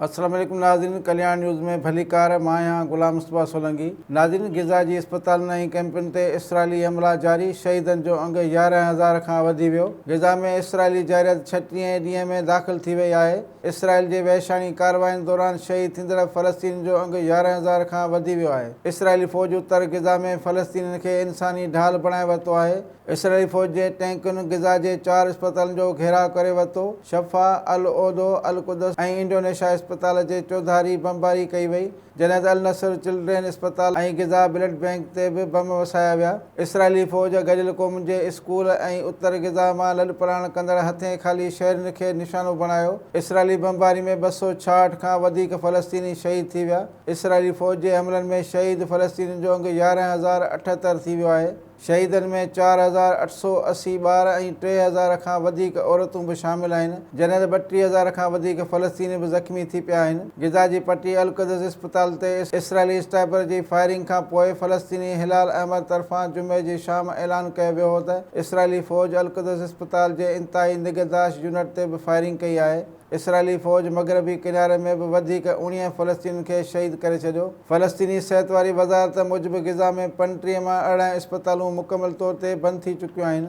السلام عليڪم ناظرين ڪلياڻ نيوز ۾ ڀليڪار مان آهيان غلام مصطفيٰ سولنگي ناظرين غزه جي اسپتالن ۽ ڪئمپن تي اسرائيلي حملا جاري شهيدن جو انگ يارهن هزار کان وڌي ويو غزه ۾ اسرائيلي جارحيت ڇٽيهين ڏينهن ۾ داخل ٿي وئي آهي اسرائيل جي وحشاڻي ڪاررواين دوران شهيد ٿيندڙ فلسطينين جو انگ يارهن هزار کان وڌي ويو آهي اسرائيلي فوج اتر غزه ۾ فلسطينين کي انساني ڍال بڻائي ورتو آهي اسرائيلي فوج جي ٽينڪن غزه جي چار اسپتالن جو گهيراء ڪري ورتو، شفا، العودو، القدس ۽ انڊونيشا اسپتال جي چوڌاري بمباري ڪئي وئي، جڏهن ته النصر چلڊرين اسپتال ۽ غزه بلڊ بئنڪ تي به بم وسايا ويا. اسرائيلي فوج گڏيل قومن جي اسڪول ۽ اتر غزه مان لڏپلاڻ ڪندڙ هٿين خالي شهرين کي نشانو بڻايو. اسرائيلي بمباري ۾ ٻه سؤ ڇاهٺ کان وڌيڪ فلسطيني شهيد ٿي ويا. اسرائيلي فوج جي حملن ۾ شهيد فلسطينين جو انگ يارهن هزار اٺهتر ٿي ويو آهي. شهيدن ۾ چار هزار اٺ سؤ اسي ٻار ۽ ٽي هزار کان وڌيڪ عورتون به شامل آهن، جڏهن ته ٻٽيهه هزار کان وڌيڪ فلسطيني به زخمي ٿي پيا آهن. غزه جي پٽي القدس اسپتال تي اسرائيلي اسٽائپر جي فائرنگ کان پوء فلسطيني هلال احمر طرفان جمعي جي شام اعلان ڪيو ويو هو ته اسرائيلي فوج القدس اسپتال جي انتهائي نگهداشت يونٽ تي به فائرنگ ڪئي آهي. اسرائيلي فوج مغربي ڪناري ۾ به وڌيڪ اوڻيهه فلسطينين کي شهيد ڪري ڇڏيو. فلسطيني صحت واري وزارت موجب غزه ۾ پنٽيهه مان ارڙهن اسپتالون مڪمل طور تي بند ٿي چڪيون آهن.